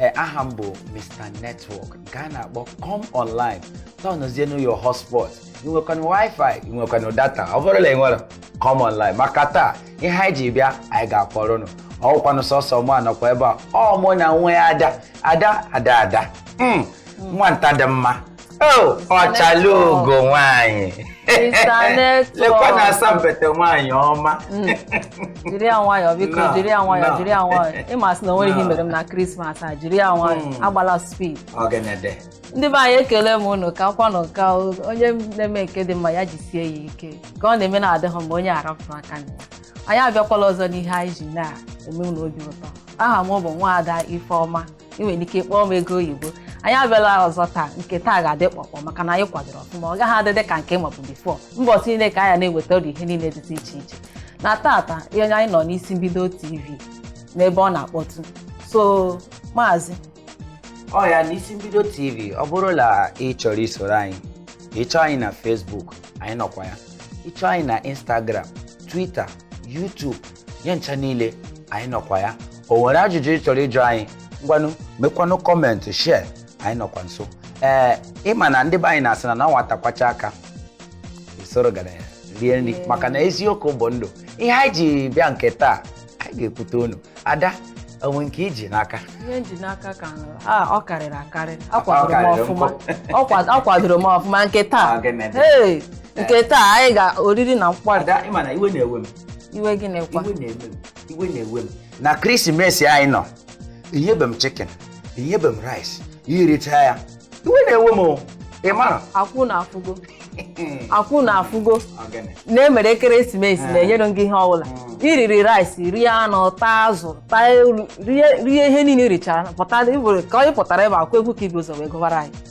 ee aha m bụ mr network nke a na-akpọ come online tọnụzienu your hotspot i nwekwanụ wifi i nwekwanụ data ọ bụrụ na ị nwere come online maka taa ihe anyị ji bịa anyị ga-akọrọ ụnụ ọ wụkwanụ sọsọ mụwa nọkwa ebe a ọ mụ na nwa ya ada ada ada ada Mm, nwanta dị mma Oh, ọchalugo nwanyị lekwa na asampete nwanyị ọma hmm. jiri ya nwayọọ biko jiri ya nwayọọ jiri ya nwayọọ ị ma sị na o nwere ihe mere m na christmas a jiri ya nwayọọ hmm. agbala speed ndị be anyị ekele m unu ka kwanụ ka onye na-eme nke dị mma ya jisie ya ike ka ọ na-eme na-adịghị mma onye arapụ aka na ya anyị abịakwala ọzọ n'ihe anyị ji na-eme unu obi ụtọ aha m bụ nwaada Ifeọma ị nwere ike kpọọ m ego oyibo anyị abịala ọzọ taa nke taa ga-adị kpọkpọ maka na anyị kwadoro ọfụma ọ gaghị adịdị ka nke mbụ before mbọchị niile ka anyị na-eweta ụdị ihe niile dịtụ iche iche na tata ihe anyị nọ n'isi mbido tv n'ebe ọ na-akpọtụ so maazị ọ ya n'isi mbido tv ọ bụrụ na ị chọrọ isoro anyị ị chọọ anyị na facebook anyị nọkwa ya ị chọọ anyị na instagram twitter youtube ya ncha niile anyị nọkwa ya o nwere ajụjụ ị chọrọ ịjụ anyị ngwanụ mekwanụ comment share anyị nọkwa nso ee ị ma na ndị be anyị na-asị na na nwata kwacha aka o soro ọgaranya rie nri maka na eziokwu bụ ndụ ihe anyị ji bịa nke taa anyị ga-ekwute unu ada o nwe nke i ji n'aka ihe m ji n'aka ka nụrụ a ọ karịrị akarị Ọ karịrị akwadoro m ọfụma nkụ. Ọ kwad- ọ kwadoro m ọfụma nke taa Ọ ga-eme. Hey, nke taa anyị ga oriri na nkwari ada ị ma na iwe na-ewe m iwe gịnị kwa iwe na-ewe m iwe na-ewe m na krisimesi anyị nọ i nyebe m chicken i nyebe m rice i richa ya iwe na-ewe m ị mara ọkwa unu afụgo ọkwa unu afụgo na e mere ekeresimesi eh. na e nyere gị ihe ọbụla hmm. i riri rice rie anụ taa azụ taa rie ihe niile richara pụta ka ọ pụtara ebe a ọkwa egwu ka i bu ụzọ wee gụbara anyị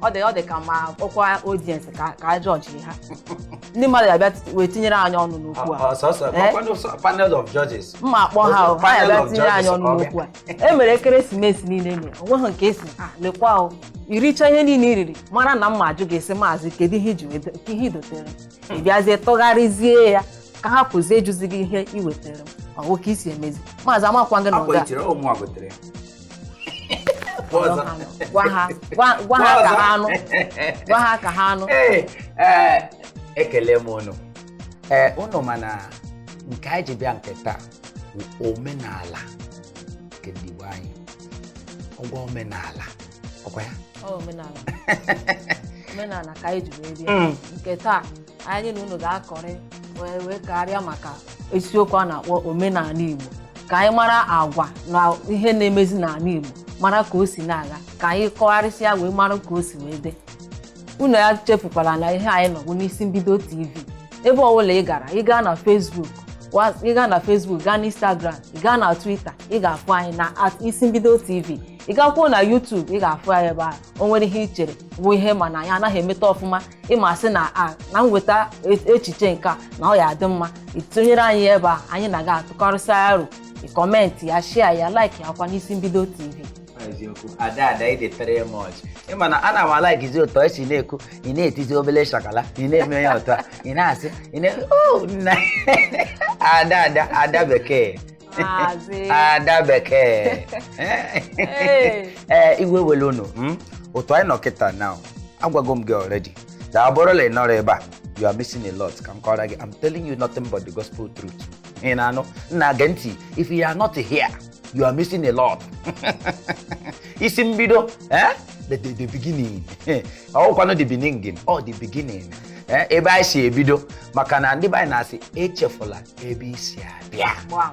ọ dị ọ dị ka ma kpọkwa audience ka ka a jọji ha ndị mmadụ ya bịa ti- wee tinyere anyị ọnụ n'okwu a Ọ- ọ- sọsọ Eh? ọkwanụ sọ- panel of judges mma akpọ ha o, ha Panel ya bịa of tinyere anyị judges ọnụ ọ bịa. n'okwu a e mere ekeresimesi niile e mere o nweghị nke ị sị "Ah, lekwa o i richa ihe niile i riri mara na mma ajụ gị sị maazị kedu ihe i ji weta- ka ihe i dotere m?" ị bịazie tụgharịzie ya ka a hapụzie ịjụzi gị ihe i wetara m ọ bụ ka i si emezi maazị amakwa gị na akwa ọga itiri ụmụ a gotere Ọzọ. gwa ha gwa gwa ha ka ha nụ gwa ha ka ha nụ Ee, ee, ekele m unu ee unu ma na nke anyị ji bịa nke taa bụ omenala nke ndị Igbo anyị ọgwa omenala ọkwa ya Ọ omenala omenala ka anyị ji wee bịa Mm. nke taa anyị na unu ga-akọrị wee karịa maka isiokwu a na-akpọ omenala Igbo ka anyị mara agwa na ihe na-emezi n'ala Igbo mara ka o si na-aga ka anyị kọgharịsịa wee mara ka o si wee dị unu echefukwala na ihe anyị nọ bụ n'isi mbido tv ebe ọbụla ị gara ị gaa na Facebook wa- ị gaa na Facebook gaa na Instagram ị gaa na Twitter ị ga-afụ anyị na at isi mbido tv ị gakwuo na YouTube ị ga-afụ anyị ebe ahụ o nwere ihe i chere bụ ihe ị ma na anyị anaghị emeta ọfụma ị ma sị na a na m weta e- echiche nke a na ọ ya-adị mma ị tụnyere anyị ebe anyị na-aga atụkọrịsị aro ị comment ya share ya like ya kwa n'isi mbido tv eziokwu ada ada ị dị three much ị ma na ana m alaikizi otu i si na-ekwu ị na-etizi obele shakala ị na-eme ya ụtọ ị na-asị ị na oh nna ada ada ada bekee ada bekee ee eh, iwe ewele unu hmm? otu anyị nọ kịta na agwago m gị already na ọ bụrụ na ị nọrọ ebe a you are missing a lot ka m kọrọ gị I'm telling you nothing but the gospel truth ị na-anụ nna gee ntị if you are not here you are missing a lot isi mbido eh? the, the, the beginning ọkwanụ the beginning ọ oh, the beginning eh, ebe anyị si ebido maka na ndị be anyị na-asị echefula ebe i si abịa Gbam.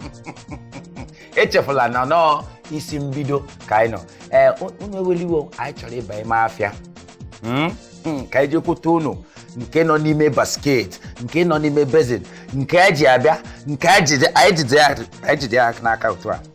echefula na ọọ isi mbido ka anyị nọ ee unu ewele iwe o anyị chọrọ ịba ime afịa Mm, mm, ka anyị jekwute unu nke nọ n'ime basket nke nọ n'ime basin nke e ji abịa nke anyị jide anyị jide ya- anyị jide ya n'aka otu a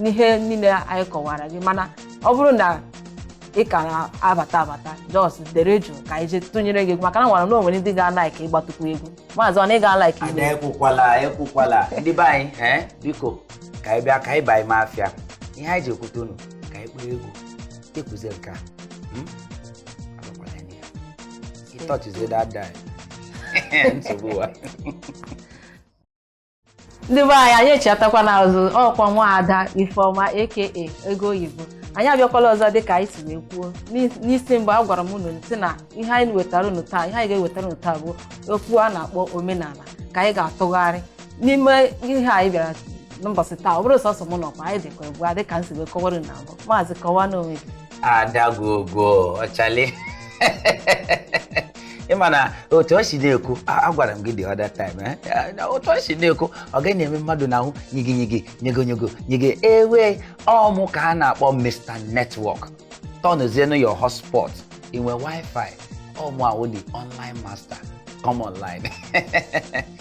n'ihe niile anyị kọwara gị mana ọ bụrụ na ị ka na-abata abata just dere jụụ ka anyị jee tụnyere gị egwu maka na m mara na o nwere ndị ga-alaik ịgbatukwu egwu maazị ọ na ị ga-alaik ada igbo ekwukwala ekwukwala ndị be anyị ee biko ka anyị bịa ka anyị baa ime afịa ihe anyị ji ekwute unu ka anyị kpọọ egwu ekwuzi nke a Hmm? Agwakwala ya n'ihe. He touches it that day. nsogbu ụwa ndị be anyị anyị echiatakwana azụ ọ kwa nwaada ifeọma aka ego oyibo anyị abịakwala ọzọ dịka anyị si wee kwuo N'is- n'isi mgbe agwara m unu sị na ihe anyị wetara unu taa ihe anyị ga-ewetara unu taa bụ okwu a na-akpọ omenala ka anyị ga-atụgharị n'ime ihe anyị bịara n'ụbọchị taa ọ bụrọ sọsọ mụ nọkwa anyị dịkwa ịbụa dịka m si wee kọwara unu na mbụ maazị kọwaanụ onwe gị adagogo ọchale ị ma na otu o si na-ekwu a- agwara m gị the other time eh? Eh, na otu o si na-ekwu ọ gaghị na-eme mmadụ n'ahụ nyigi nyigi nyego nyego nyige ewe ọ mụ ka a na-akpọ Mr Network tọnụzienụ your hotspot i nwee wifi ọ mụa wụ the online master come online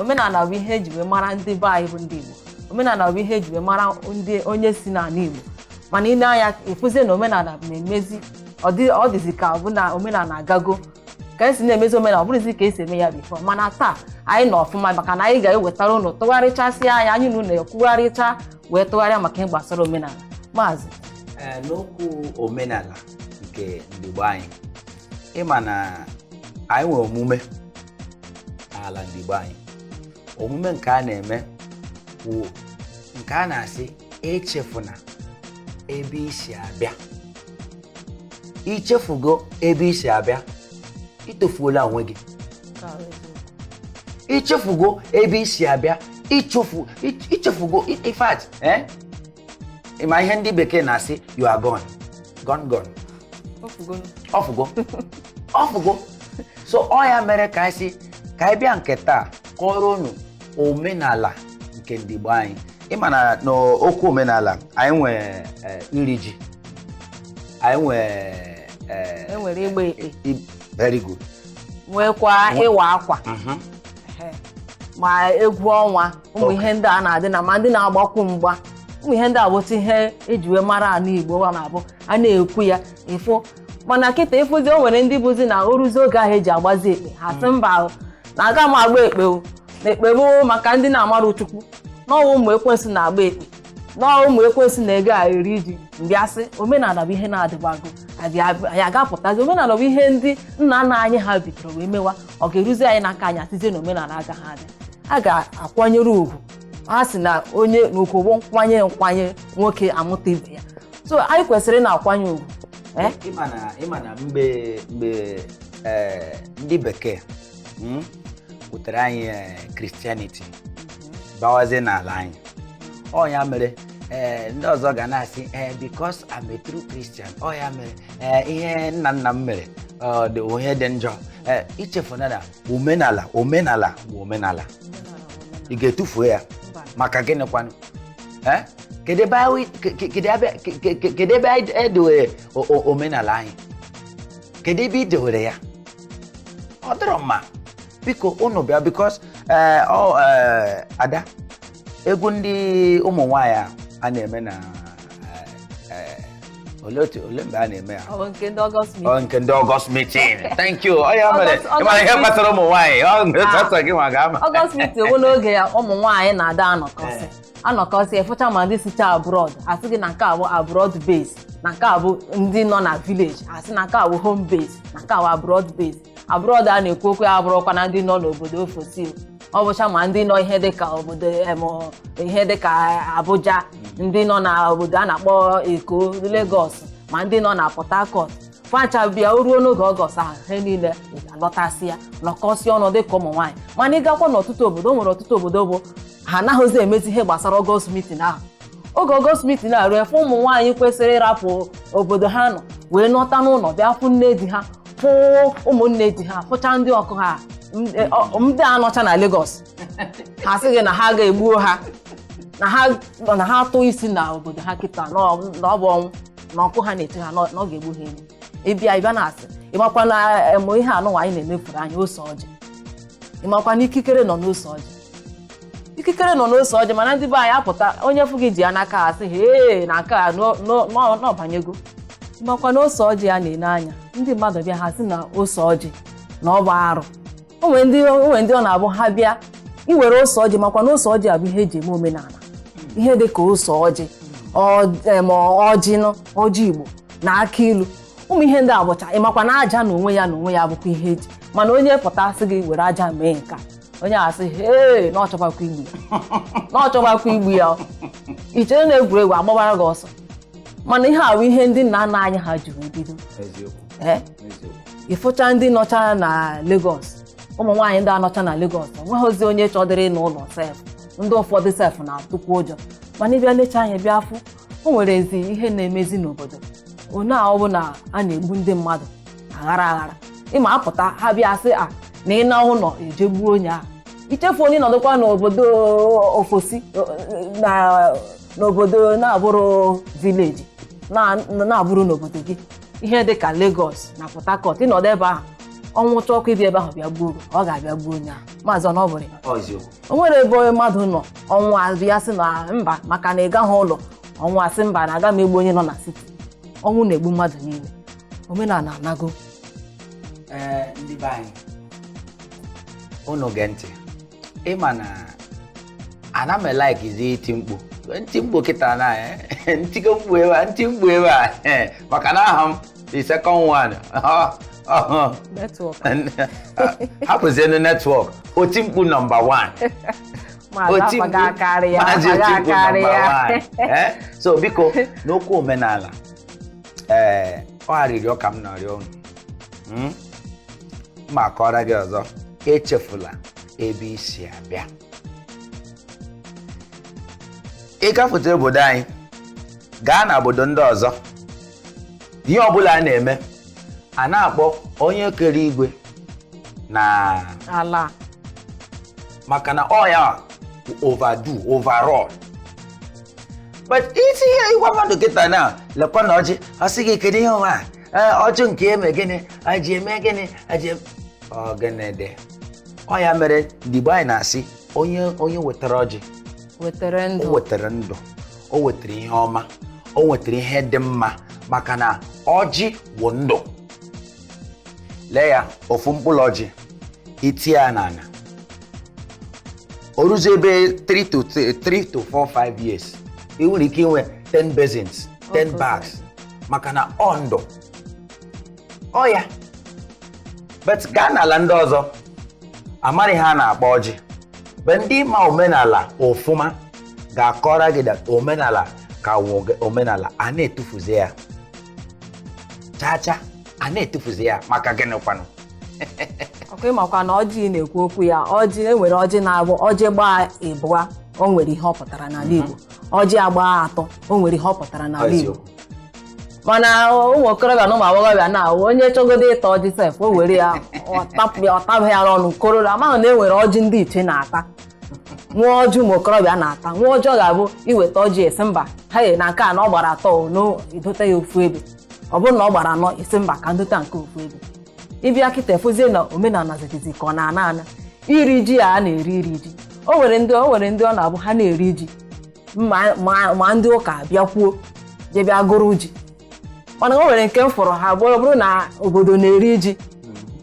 omenala bụ ihe eji wee mara ndị be anyị bụ ndị Igbo omenala bụ ihe eji wee mara ndị onye si n'ala Igbo mana ile anya ịfụzie na omenala na-emezi ọ dịzi ka bụ na omenala agago ka esi na-emezi omenala ọ bụrọzi ka esi eme ya before mana taa anyị nọ ọfụma maka na anyị ga-ewetara ụnụ tụgharịchasị anya anyị na ụnụ ekwugharịcha wee tụgharịa maka ihe gbasara omenala maazị n'okwu omenala nke ndị Igbo anyị ịma na anyị nwere omume n'ala ndị Igbo anyị omume nke a na-eme wụ nke a na-asị echefuna ebe isi abịa ichefugo ebe isi abịa itofuola onwe gị ichefugo ebe isi abịa ichefugo in fact ịma ihe ndị bekee na-asị you are gone gone gone o fugo o fugo so ọ ya mere ka anyị sị ka anyị bịa nke taa kọrọ unu omenala nke ndị Igbo anyị ịma na n'okwu omenala anyị nwee eh, iri ji anyị nwee eh, e nwere ịgba ekpe very good nwekwa ịwa akwa mhm. ma egwu ọnwa ụmụ ihe ndị a na-adị na ma ndị na-agbakwu mgba ụmụ ihe ndị a bụtụ ihe eji wee mara ala Igbo wa na-abụ a na-ekwu ya ịfụ mana kịta ịfụzi o nwere ndị bụzi na o ruzi oge ahụ eji agbazi ekpe ha sị mba na aga m agba ekpe o na ekpe bụ maka ndị na-amarọ Chukwu na ọ wụ ụmụ ekwensu na-agba ekpe na ọ wụ ụmụ ekwensu na-aga iri ji m bịa sị omenala bụ ihe na-adịbago anyị aga-apụtazi omenala bụ ihe ndị nna nna anyị ha bidoro wee mewa ọ ga-eruzi anyị n'aka anyị asịzie na omenala agaghị adị a ga-akwanyere ugwu a sị na onye na ugwu bụ nkwanye nkwanye nwoke amụta ibe ya so anyị kwesịrị na-akwanye ugwu ee ịma na ịma na mgbe mgbe eh, ndị bekee mm, butere anyị eh, Christianity bawazie n'ala anyị ọ ya mere eh, ndị ọzọ ga na-asị eh, because I'm a true Christian ọ ya mere ee ihe nna nna m mere ọ dị ihe dị njọ ee ichefuna na omenala omenala bụ omenala ị ga-etufuo ya maka gịnị kwanụ ee kedu ebe anyị ke- ke- kedu ebe- ke- ke- ke- kedu ebe anyị edowere o- o- omenala anyị kedu ebe i dewere ya ọ dịrọ mma biko unu bịa because ada egwu ndị ụmụ nwaanyị a a na-eme na eh, ole otu ole mgbe a na-eme ya ọ nke ndị August mi ọ nke ndị August meeting thank you ọ ya mere August- ịmara ihe August gbasara ụmụ nwaanyị ọ na sọsọ gị nwa ga-ama August meeting wụ n'oge ya ụmụ nwaanyị na-ada anọkọsị anọkọsị ịfụcha ma ndị sicha abroad asị gị na nke a bụ abroad base na nke a bụ ndị nọ na village asị na nke a bụ home base na nke a bụ abroad base abroad a na-ekwu okwu ya abụrọkwa na ndị nọ n'obodo ofesi ọ bụcha ma ndị nọ ihe dịka obodo em, ihe dịka Abuja ndị nọ na obodo a na-akpọ Eko Lagos ma ndị nọ na Port Harcourt facha bịa o ruo n'oge August ahụ ha niile alọtasịa nọkọsịa ọnụ dịka ụmụ nwaanyị mana ị gakwa n'ọtụtụ obodo o nwere ọtụtụ obodo bụ ha anaghịzi emezi ihe gbasara August meeting ahụ oge August meeting a ruo ebe ụmụ nwaanyị kwesịrị ịrapụ obodo ha nọ wee nọta n'ụlọ bịa fụ nne di ha fụ ụmụnne di ha fụcha ndị ọkụ ha m- e, ọ- ndị a nọcha na Lagos ha sị gị na ha ga-egbuo ha na ha na ha tụọ isi na obodo ha kịta na ọ na ọ bụ ọnwụ na ọkụ ha na-eche ha na ọ na ọ ga-egbu ha egbu ị bịa ị bịa na-asị ị makwa na em, ihe anụnwa anyị na-emefuru anyị ose ọjị ị makwa na ikikere nọ n'ose ọjị ikikere nọ n'ose ọjị mana ndị be anyị apụta onye fụ gị ji ya n'aka a sị hee na nke a n'o- n'o- n'ọ- n'ọbanyego ị makwa na ose ọjị a na-ele anya ndị mmadụ bịa ha sị na ose ọjị na ọ bụ arụ o nwere ndị o nwere ndị ọ na-abụ ha bịa i were ose ọjị makwa na ose ọjị a bụ ihe e ji eme omenala ihe dị ka ose ọjị ọ- em, ọjị nụ ọjị Igbo na akị ilu ụmụ ihe ndị a bụcha ị makwa na aja na onwe ya na onwe ya bụkwa ihe e ji mana onye pụta sị gị were aja mee nka onye a sị hee na ọ chọbakwa igbu ya na ọ chọbakwa igbu ya ọ. i chere na egwuregwu a gbawara gị ọsọ mana ihe a bụ ihe ndị nna nna anyị ha jiri bido eziokwu ee eziokwu ị fụcha ndị nọcha na Lagos ụmụ nwaanyị ndị anọcha na Lagos o nweghịzi onye chọdịrị ịna ụlọ sef ndị ụfọdụ sef na-atụkwu ụjọ mana ị bịa lecha anya bịa afụ o nwerezi ihe na-emezi n'obodo one a ọ bụ na a na-egbu ndị mmadụ aghara aghara ịma apụta ha bịa sị a na ị na ụlọ e je gbuo onye ahụ ichefu onye nọdụkwa n'obodo ofesi na n'obodo na-abụrọ village na- na-abụrọ n'obodo gị ihe dị ka Lagos na Port Harcourt ị nọdụ ebe ahụ ọnwụ chọkwu ịbịa ebe ahụ bịa gbuo gị, ọ ga-abịa gbuo onye ahụ maazị ọ na ọ bụrọ ya Ọ eziokwu. o nwere ebe onye mmadụ nọ ọnwụ abịa sị na mba maka na ị gaghị ụlọ ọnwụ asị mba na aga m egbu onye nọ na city ọnwụ na-egbu mmadụ niile omenala anago ee ndị be anyị unu gee ntị ị ma na ana m e-likezi iti mkpu m tie mkpu kịta na eh, m tigo mkpu ebe a m tie mkpu ebe a eh, maka na aha m the second one hapụzienu network Otimkpu number 1 maazị Otimkpu number 1 eh, so biko n'okwu omenala ee ọ arịrịọ ka m na-arịọ unu Mm? ma akọrọ gị ọzọ echefula ebe i si abịa ị gafụta obodo anyị gaa na obodo ndị ọzọ ihe ọbụla a na-eme a na-akpọ onye kere igwe na ala maka na ọ ya over overall but isi ihe ị gwa mmadụ kịta na lekwa na ọjị ọ sị gị kedu ihe ụwa a? Ee, ọjị nke eme gịnị e ji eme gịnị e ji eme ọ gịnị dị ọ ya mere ndị Igbo anyị na-asị onye onye wetara ọjị wetara o ndụ wetara ndụ o wetara ihe ọma o wetara ihe dị mma maka na ọjị bụ ndụ lee ya ofu mkpụrụ ọjị i tie ya n'ala o ruzie ebe 3 to 3 to 4 5 years ị nwere ike inwe 10 basins 10 bags maka na ọ ndụ ọ ya but gaa n'ala ndị ọzọ amaghị ihe a na-akpọ ọjị but ndị ma omenala ofụma ga-akọrọ gị that omenala ka wụ omenala a na-etufuzi ya chaa chaa a na-etufuzi ya maka gịnị kwanụ okay ị makwa na ọjị ị na-ekwu okwu ya ọjị e nwere ọjị na-abụ ọjị gbaa ịbụa o nwere ihe ọ pụtara n'ala Igbo ọjị agbaa atọ o nwere ihe ọ pụtara n'ala Igbo eziokwu mana ụmụ okorobịa na ụmụ agbọghọbịa na-awụ onye chọgodo ịta ọjị sef o were ya ọ tapụ ya ọ tabaghị ya n'ọnụ kororo amaghị na e nwere ọjị ndị ichie na-ata nwee ọjị ụmụ okorobịa na-ata nwee ọjị ọ ga-abụ i weta ọjị ị sị mba ha ye na nke a na ọ gbara atọ o, na i dote ya ofu ebe ọ bụrụ na ọ gbara anọ ị sị mba ka m dote nke ofu ebe ị bịa kịta ị fụzie na omenala dịzi ka ọ na-ana ana iri ji a na-eri iri ji o nwere ndị o nwere ndị ọ na-abụ ha na-eri ji ma ma- ma ndị ụka bịakwuo je bịa gụrụ ji mana o nwere nke m fụrụ ha abụọ ọ bụrụ na obodo na-eri ji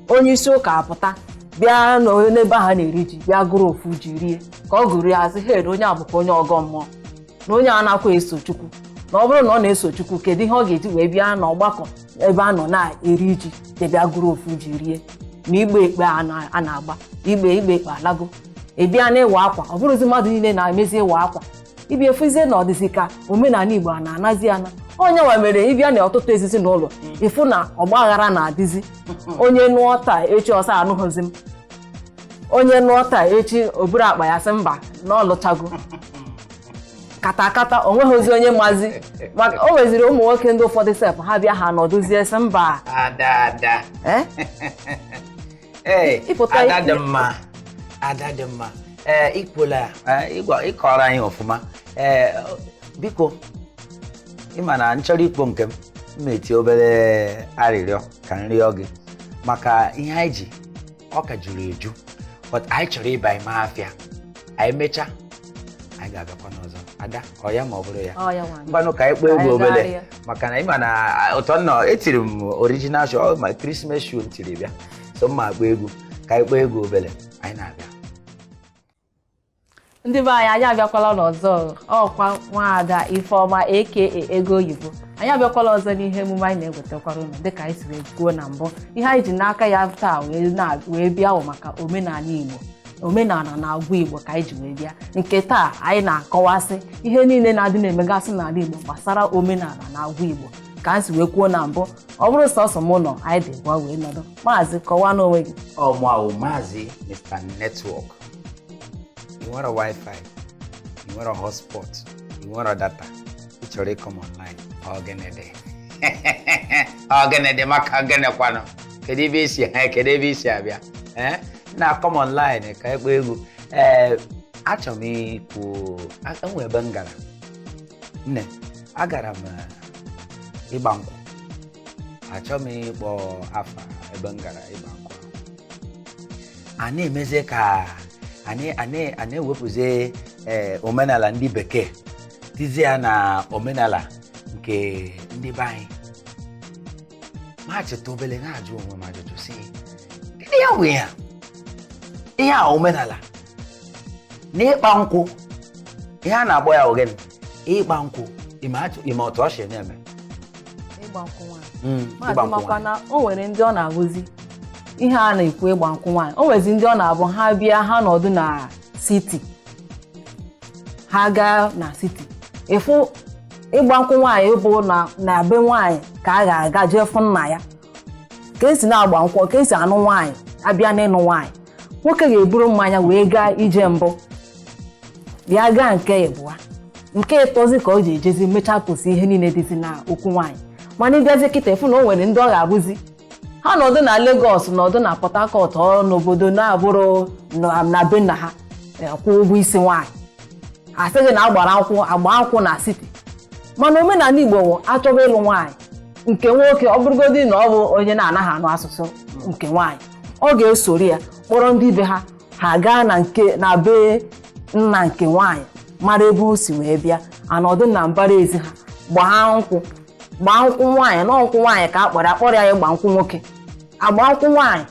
onye isi ụka apụta bịa n'o- n'ebe ha na-eri ji bịa gụrụ ofu ji rie ka ọ gụrụ ya a sị hee onye a bụkwa onye ọgọ mmụọ na onye a anakwa eso chukwu na ọ bụrụ na ọ na-eso chukwu kedu ihe ọ ga-eji wee bịa n'ọgbakọ ebe a nọ na-eri ji ya bịa gụrụ ofu ji rie ma ịgba ekpe a na- a na-agba ịgba ịgba ekpe alago ị bịa na ịwa akwa ọ bụrụzi mmadụ niile na-emezi ịwa akwa ị bịa ị fụzie na ọ dịzi ka omenala Igbo a na-anazi ana ọ ya nwa mere ị bịa na ọtụtụ ezinụlọ ị fụ na ọgbaghara na-adịzi onye nụọ taa echi ọ sị anụghịzi m onye nụọ taa echi o buru akpa ya sị mba na ọ lụchago katakata o nweghịzi onye mazi maka o nweziri ụmụ nwoke ndị ụfọdụ sef ha bịa ha nọdụzie sị mba ada ada eh? Ee, Ịpụta ada dị mma ada dị mma ee ikwuola ya ee, ịgwa- ịkọrọ anyị ọfụma ee biko ịma na nchọrọ ikpo nke m m eti obere arịrịọ ka m rịọ gị maka ihe anyị ji ọ ka juru eju but anyị chọrọ ịba ime afịa anyị mechaa anyị ga-abịakwa n'ọzọ ada ọ ya ma ọ bụrụ ya ọ ya nwaanyị ngwanụ ka anyị kpọọ egwu Anyị obele gagharịa. maka na ịma na a, ụtọ nnọọ etiri m original shoe ọ my Christmas shoe m tiri bịa so mma akpọ egwu ka anyị kpọọ egwu obele anyị na-abịa ndị be anyị anyị abịakwala n'ọzọ ọkwa nwaada Ifeoma aka ego oyibo anyị abịakwala ọzọ n'ihe emume anyị na-ewetakwara unu dịka anyị siri kwuo na mbụ ihe anyị ji n'aka ya taa wee na- wee bịa bụ maka omenala igbo omenala na agwa igbo ka anyị ji wee bịa nke taa anyị na-akọwasị ihe niile na-adị na-emegasị n'ala igbo gbasara omenala na agwa igbo ka anyị si wee kwuo na mbụ ọ bụrụ sọsọ m nọ anyị dị ịbụa wee nọdụ maazị kọwanụ onwe gị ọ mụa wụ maazị Mr Network ị nwere wifi ị nwere hotspot ị nwere data ị chọrọ ị come online ọ gịnị dị ọ gịnị dị maka gịnịkwanụ kedu ebe isi ha kedu ebe isi abịa ee nna come online ka a kpọọ egwu ee achọrọ m ikwu o nwee ebe m gara nne agara m eh, ịgba nkwụ achọrọ m ịkpọ afa ebe m gara ịgba nkwụ a na-emezi ka a na-ewepụzi eh, omenala ndị bekee tizie ya na omenala nke ndị be anyị ma chetu obele na-ajụ onwe m ajụjụ sị kedu ya nwe ya ihe a omenala n'ịgba nkwụ ihe a na-akpọ ya ọ gịnị ịgba nkwụ ịma otu o si na-eme ịgba nkwụ nwaanyị makwa na o nwere ndị ọ na-abụzi ihe a na-ekwu ịgba nkwụ nwaanyị o nwezi ndị ọ na-abụ ha bịa ha nọdụ na siti ha gaa na siti ịfụ ịgba nkwụ nwaanyị bụ na na be nwaanyị ka a ga-aga jee fụ nna ya ka esi na-agba nkwụ ka esi anụ nwaanyị abịa n'ịnụ nwaanyị nwoke ga-eburu mmanya wee gaa ije mbụ ya gaa nke ịbụa nke ịtọzi ka o ji ejezi mechaa kwụsị ihe niile dịzi na okwu nwaanyị mana ịbịazi kịta ị fụ na o nwere ndị ọ ga-abụzi ha nọdụ na Lagos nọdụ na Port Harcourt ọ n'obodo na-abụrụ na- na be nna ha eh, kwụọ ụgwọ isi nwaanyị ha sịghị na agbara nkwụ agba nkwụ na siti mana omenala Igbo wụ achọba ịlụ nwaanyị nke nwoke ọ bụrụgodị na ọ bụ onye na-anaghị anụ asụsụ nke nwaanyị ọ ga-esoro ya kpọrọ ndị be ha ha gaa na nke na be nna nke nwaanyị mara ebe o si wee bịa anọdụ na mbara ezi ha gbaa nkwụ gbaa nkwụ nwaanyị na ọ nkwụ nwaanyị ka a kpọrọ ya akpọrọ ya ịgba nkwụ nwoke a gbaa nkwụ nwaanyị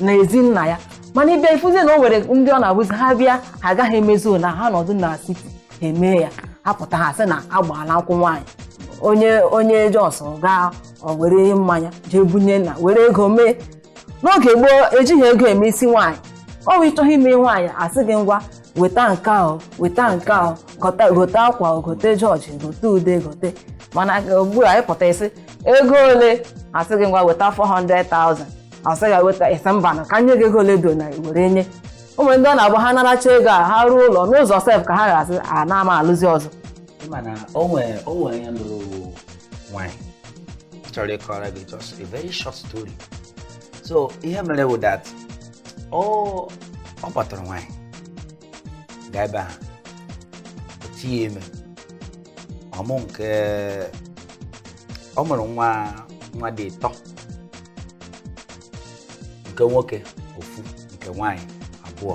na ezi nna ya mana ị bịa ị fuzie na o nwere ndị ọ na-abụzi ha bịa ha agaghị emezu na ha nọdụ na city ha emee ya ha pụta ha sị na a gbaala nkwụ nwaanyị onye onye just gaa o were mmanya jee bunye nna were ego mee n'oge gboo ejighị ego eme isi nwaanyị ọ bụ ị chọọ ime nwaanyị asị gị ngwa weta nke ahụ weta nke ahụ gote gote akwa gote George gote ude gote mana ugbu a ị pụta ị sị ego ole asị gị ngwa weta 400,000 asị gị weta ị sị mba na ka nye gị ego ole do na were nye o nwere ndị ọ na-abụ ha naracha ego a ha ruo ụlọ n'ụzọ sef ka ha ga-asị a na ama alụzi ọzọ ị ma na o nwere o nwere onye lụrụ nwaanyị chọrọ ịkọrọ gị just a very short story so ihe mere wụ that ọ ọ kpọtara nwaanyị gaa ebe ahụ o tinye ime ọ mụọ nke ọ mụrụ nwa nwa dị ịtọ nke nwoke ofu nke nwaanyị abụọ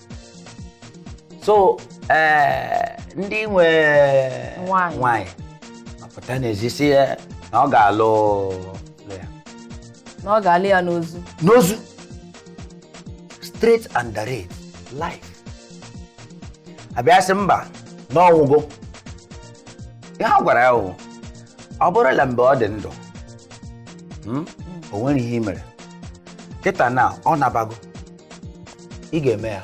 so ee ndị nwe nwaanyị nwaanyị apụta n'ezi sị ya na ọ ga-alụ lụ ya na ọ ga-alụ ya n'ozu n'ozu straight and direct life abịa sị mba na ọ nwụgo ihe a gwara ya wụ ọ bụrụla mgbe ọ dị ndụ mm, o nwere ihe i mere kịta na ọ nabago ị ga-eme ya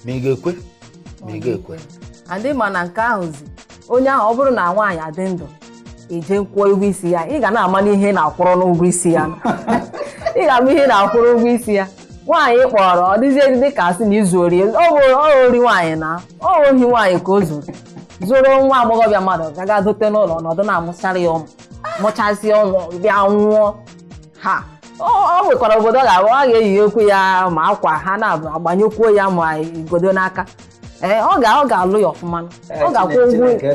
ma ị ga-ekwe ma ị ga-ekwe and mana nke ahụzi onye ahụ ọ bụrụ na nwaanyị a dị ndụ i jee kwụọ ụgwọ isi ya ị ga na-ama n'ihe na-akwụrụ n'ụgwọ isi ya ị ga-ama ihe ị na-akwụrụ ụgwọ isi ya nwaanyị ị kpọọrọ ọ dịzie dị ka a sị na izu ori ọ bụ ori nwaanyị na ọ ohi nwaanyị ka o zuru zuru nwa agbọghọbịa mmadụ gaga dote n'ụlọ ọ nọdụ na-amụchara ya ụmụ mụchazie ụmụ bịa nwụọ ha o nwekwara obodo ọ ga-abụ a ga-eyiyekwu ya ma akwa ha na-agbanyekwuo ya ma igodo n'aka ee eh, ọ ga ọ ga-alụ ya ọfụma eh, ọ ga-akwụ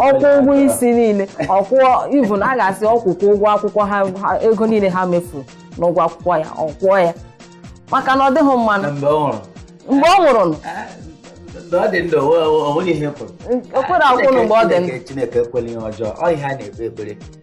ọ kwụọ ụgwọ isi niile ọ kwụọ even a ga-asị ọ kwụkwuo ụgwọ akwụkwọ ha ego niile ha mefuru n'ụgwọ akwụkwọ ya ọ kwụọ ya maka na ọ dịghị mma mgbe ọ nwụrụ o kwere akwụnụ mgbe ọ dị ndụ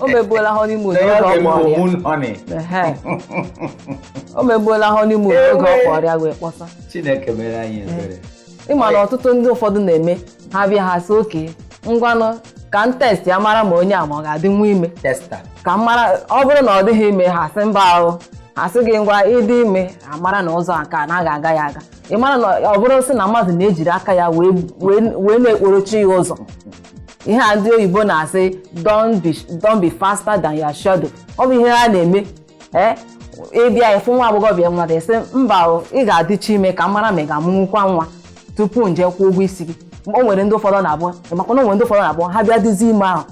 o mebuola honeymoon oge ọ kpọrọ ya Moon honey. Ehe. o mebuola honeymoon oge ọ Ewe. kpọrọ ya wee kpọsa Chineke mere anyị ebere. ị ma na ọtụtụ ndị ụfọdụ na-eme ha bịa ha sị okay ngwanụ ka m test ya mara ma onye a ma ọ ga-adịnwu ime Testa. ka m mara ọ bụrụ na ọ dịghị ime ha sị mba ahụ ha sị gị ngwa ị dị ime a mara na ụzọ nke a na-aga aga ya aga ị mara na ọ bụrụ sị na mmadụ na-ejiri aka ya wee wee wee na-ekporochi ya ụzọ ihe a ndị oyibo na-asị don't be don't be faster than your shadow ọ bụ ihe ha na-eme ee ị bịa ị fụ nwa agbọghọbịa mmadụ ị sị mba o, ị ga-adịchi ime ka m mara ma ị ga-amụnwukwa nwa tupu m je kwụọ ụgwọ isi gị o nwere ndị ụfọdụ na-abụ makwa na o nwere ndị ụfọdụ na-abụ ha bịa dịzi ime ahụ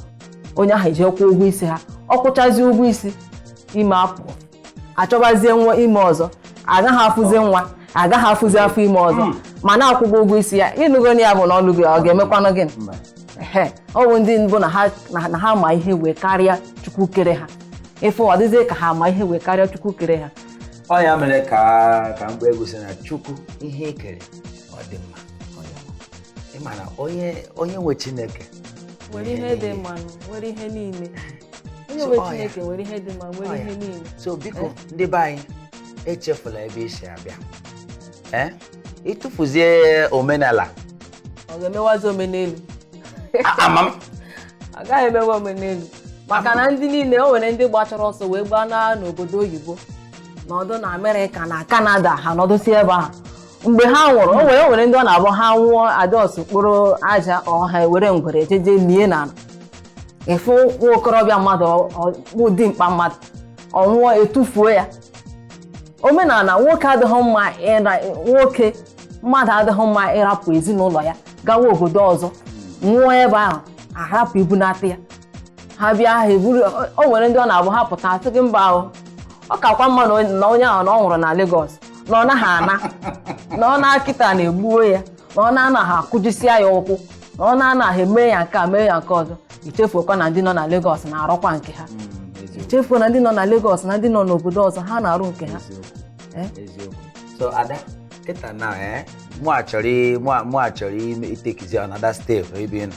onye ahụ eje kwụọ ụgwọ isi ha ọ kwụchazi ụgwọ isi ime apụọ achọbazie nwa ime ọzọ agaghị afụzi nwa agaghị afụzi afọ ime ọzọ hmm. mana akwụgo ụgwọ isi ya ị nụgo ya bụ na ọ lụgo ọ ga-emekwanụ gịnị ọ bụ ndị mbụ na ha ma ihe wee karịa chukwu kere ha ị fụ ọ dịzie ka ha ma ihe wee karịa chukwu kere ha ọ ya mere ka ka mgbe egwu sị na chukwu ihe i kere ọ dị mma ị ma na onye nwe chineke nwere ihe dị mma nwere ihe niile onye nwe chineke nwere ihe dị mma nwere ihe niile so biko eh? ndị be anyị echefula ebe i si abịa eh? ị tụfuzie omenala ọ ga-emewazi omenelu ama m ọ gaghị emewe omenelu maka na ndị niile o nwere ndị gbachara ọsọ wee gbaa n'obodo oyibo nọdụ na amerịka na kanada ha nọdụsi ebe ahụ mgbe ha nwụrụ o nwere o nwere ndị ọ na-abụ ha nwụọ a just kporo aja ọha ewere ngwere jeje lie na ala. ị fụ nwa okorobịa mmadụ ọ- ọ- bụ dimkpa mmadụ ọ nwụọ etufuo ya omenala nwoke adịghị mma ịra nwoke mmadụ adịghị mma ịrapụ ezinụlọ ya gawa obodo ọzọ nwụọ ebe ahụ arapụ ibunata ya ha bịa ha eburu o nwere ndị ọ na-abụ ha pụta asị gị mba o ọ kakwa mma na onye- na onye ahụ na ọ nwụrụ na Lagos na ọ naghị ana na ọ naa kịta na e gbuo ya na ọ naa na ha akụjisia ya ụkwụ na ọ naa na ha eme ya nke a mee ya nke ọzọ i chefuokwa na ndị nọ na Lagos na-arụkwa nke ha chefuo na ndị nọ na Lagos na ndị nọ n'obodo ọzọ ha na-arụ nke ha eh? so ada kịta na eh, mụwa chọrọ mụwa chọrọ itekizi another step ebe ị nọ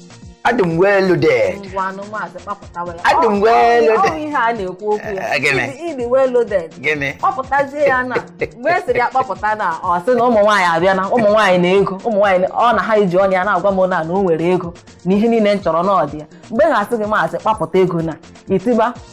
adị m well loaded ngwanụ maazị kpapụtawa ya Adị m Ọ- well ọ- ọ loaded. ihe a na-ekwu okwu ya Eh, gịnị? Ịdị- ịdị well loaded gịnị kpapụtazie ya na mgbe a sịrị ya kpapụta na ọ sị na ụmụ nwaanyị abịa na ụmụ nwaanyị na ego ụmụ nwaanyị na- ọ na ha iji ọnụ ya na-agwa m na na o nwere ego na ihe niile m chọrọ na ọ dị ya mgbe ha sị gị maazị kpapụta ego na i tiba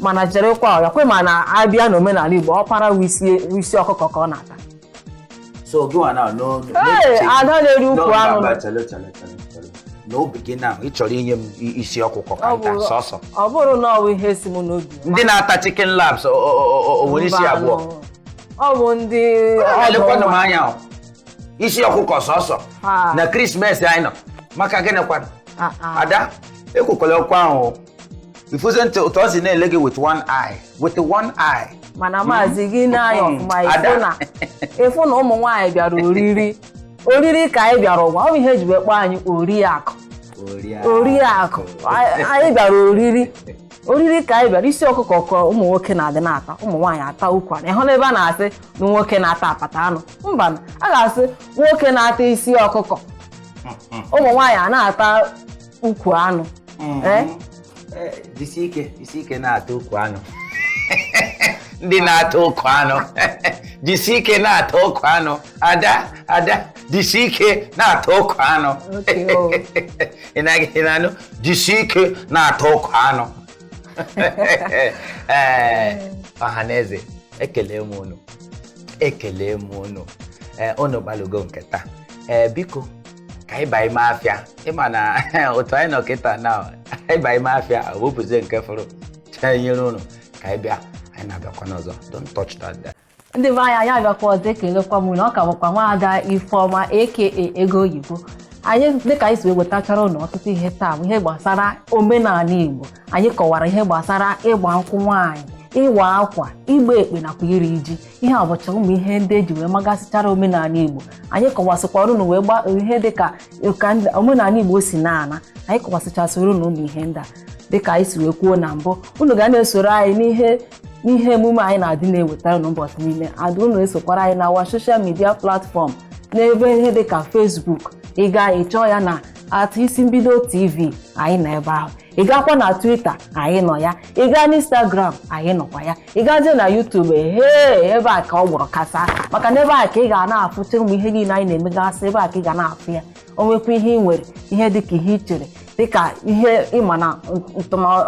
mana cherekwa ọya kwe ma na abịa n'omenala igbo ọkpara wụ isi ọkụkọ ka ọ na-ata so gịnwa na no Hey, ada na-eri ukwu anụ n'obi gị na ị chọrọ inye m i- isi ọkụkọ ka Ọ m ta bụ- sọsọ ọ bụrụ na ọ bụ ihe si m n'obi ndị na-ata chicken laps o- o- o- o- o nwere isi Mba, abụọ nụ. ọ bụ ndị ọdụ elekwanụ m nwa. anya o. isi ọkụkọ sọsọ Ah. na krismes anyị nọ maka gịnị kwanụ Ah, ah. ada ekwukwala okwu ahụ o. ifuze ntị ụtọ si na-ele gị with one eye with one eye mana hmm? maazị gị na-anya hmm. ọfụma ịfụ na ụmụ nwaanyị bịara oriri oriri ka anyị bịara ụwa ọ bụ ihe eji wee kpọọ anyị oriakụ oriakụ anyị bịara oriri oriri ka anyị bịara isi ọkụkọ ka ụmụ nwoke na-adị na-ata ụmụ nwaanyị ata ukwu anụ ịhụ n'ebe a na-asị na nwoke na-ata apata anụ mba a ga-asị nwoke na-ata isi ọkụkọ hmm, ụmụ nwaanyị a na-ata ukwu anụ mm-hmm. eh? Eh, jisi ike jisi ike na-ata ukwu anụ ndị na-ata ukwu anụ jisi ike na-ata ukwu anụ ada ada jisi ike na-ata ukwu anụ ị na-anụ jisi ike na-ata ukwu anụ ee ọha na eze ekele m unu ekele m unu ee unu gbalụgo nke taa ee biko ka anyị baa ime afịa ịma na otu anyị nọ kịta na anyị baa ime afịa ọ bụzie nke fọrọ chee nyere unu ka anyị bịa anyị na-abịakwa n'ọzọ don't touch that dial. ndị be anyị anyị abịakwa ọzọ ekelekwa m unu ọ ka bụkwa nwaada ifeọma aka ego oyibo anyị dịka anyị si wee wetachara unu ọtụtụ ihe taa bụ ihe gbasara omenanị igbo anyị kọwara ihe gbasara ịgba nkwụ nwaanyị ịwa akwa ịgba ekpe nakwa iri ji ihe a bụcha ụmụ ihe ndị eji wee magasịchara omenanị igbo anyị kọwasịkwara unu wee gba ihe dịka ka ndị- omenanị igbo si na-ana anyị kọwasịchasịrị unu ụmụ ihe ndị a dịka anyị si wee kwuo na mbụ unu ga na-esoro anyị n'ihe n'ihe emume anyị na-adị na-ewetara unu ụbọchị niile adị unu esokwara anyị na our social media platform n'ebe ihe dịka facebook ị gaa ị chọọ ya na at isi mbido tv anyị nọ ebe ahụ ị gaakwa na twitter anyị nọ ya ị gaa n'instagram anyị nọkwa ya ị gazie na YouTube hee ebe a ka ọ gbọrọ kasaa maka na ebe a ka ị ga na-afụcha ụmụ ihe niile anyị na-emegasị ebe a ka ị ga na-afụ ya o nwekwa ihe ị nwere ihe dịka ihe ị chere dịka ihe ịma na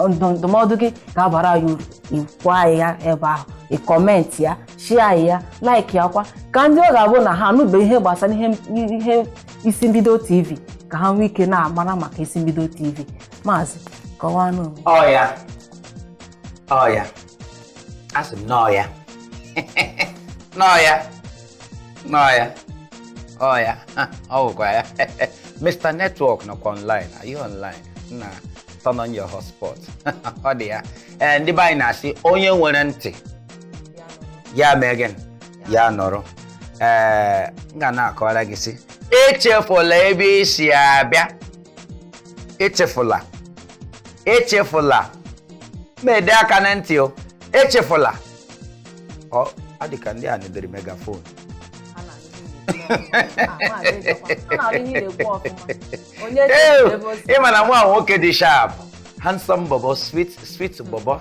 ndụmọdụ gị ga-abara ya uru ị gwa anyị ya ebe ahụ ị comment ya share ya like ya kwa ka ndị ọ ga-abụ na ha anụbe ihe gbasara ihe isi mbido tv ka ha nwee ike na-amara maka isi mbido tv maazị kọwanụ ọya ọya asị m n'ọya n'ọya n'ọya ọya ọ bụkwa ya Mr. Network nọkwa online are you online na turn on your hotspot ọ dị ya ee ndị be anyị na-asị onye nwere ntị ya mee gịnị ya nụrụ ee m ga na-akọwara gị sị echefula ebe i si abịa echefula echefula ma ede aka na ntị o echefula ọ ọ dị ka ndị a nedere megaphone Ha na-anụ ihe na-ekwu. Ah, maazị Ejiofor, ha na-anụ ihe na-ekwu ọfụma. Onye Ew, echefuru ebe o si. ị ma na nwa nwoke dị sharp handsome bobo sweet sweet bobo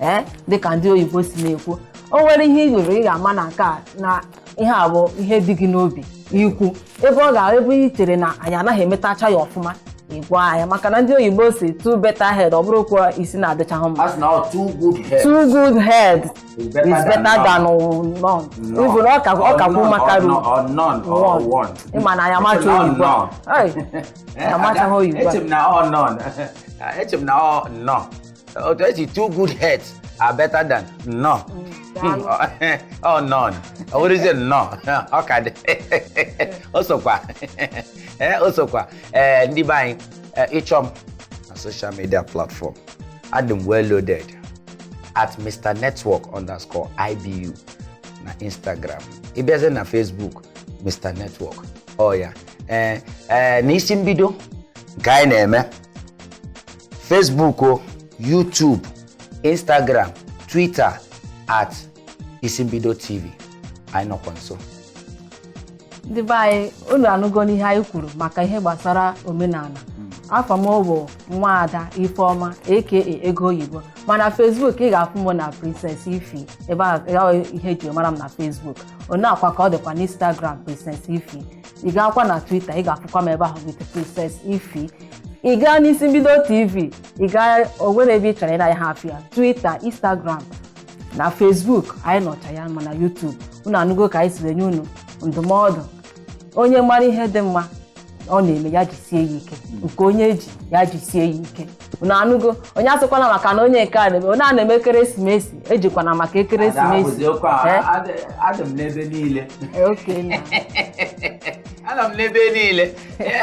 ee dịka ndị oyibo si na-ekwu o nwere ihe ị yụrụ ị ga-ama na nke a na ihe a bụ ihe dị gị n'obi ikwu ebe ọ ga ebe ị chere na anyị anaghị emetacha ya ọfụma ị gwa anyị maka na ndị oyibo sị two better head ọ bụrụkwa isi na-adịchaghị mma a sị na ọ two good head two good head is is better than than none none. even ọ ka ọ kakwu Or maka none, ru or none, or one. one. ị ma na anyị amacha None, oyibo none. Ei, anyị amachaghị oyibo Eche m na ọ none. Eche m na ọ none. otu esi two good heads are better than none daalụ. ọ none ọ bụrụzie nnọọ ọ ka dị o sokwa ee o sokwa ee ndị be anyị ee, ị chọọ m na social media platform adị m well loaded at mr network underscore ibu na instagram ị bịazie na facebook mr network ọ ya ee ee n'isi mbido nke anyị na-eme Facebook o YouTube Instagram Twitter at Isimbido TV anyị nọkwa nso ndị be anyị unu anụgo n'ihe anyị kwuru maka ihe gbasara omenala afa m bụ nwaada Ifeoma aka ego oyibo mana Facebook ị ga-afụ m na Princess Ify ebe a ya ihe e ji mara m na Facebook ọ nya kwa ka ọ dịkwa n'Instagram Princess Ify ị gaakwa na twitter ị ga-afụkwa m ebe ahụ with Princess Ify ị gaa n'Isimbido TV ị gaa o nwere ebe ị chọrọ ị na ya ha afụ ya twitter instagram na facebook anyị nọcha ya ma na youtube unu anụgo ka anyị siri nye unu ndụmọdụ onye mara ihe dị mma ọ na-eme ya jisie ya ike nke onye ji ya jisie ya ike unu anụgo onye asịkwana maka na onye nke a na-eme onye a na-eme ekeresimesi ejikwana maka ekeresimesi adị m n'ebe niile anọ m n'ebe niile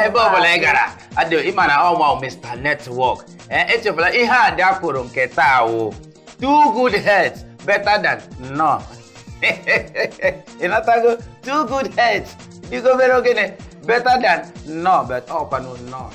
ebe ọ bụla ị gara adị ị ma na ọ mụ Mr. Network echefula ihe a dị akwụrụ nke taa wụ two good heads better than none ị natago two good heads dịgo very okay better than none but ọ kwanụ none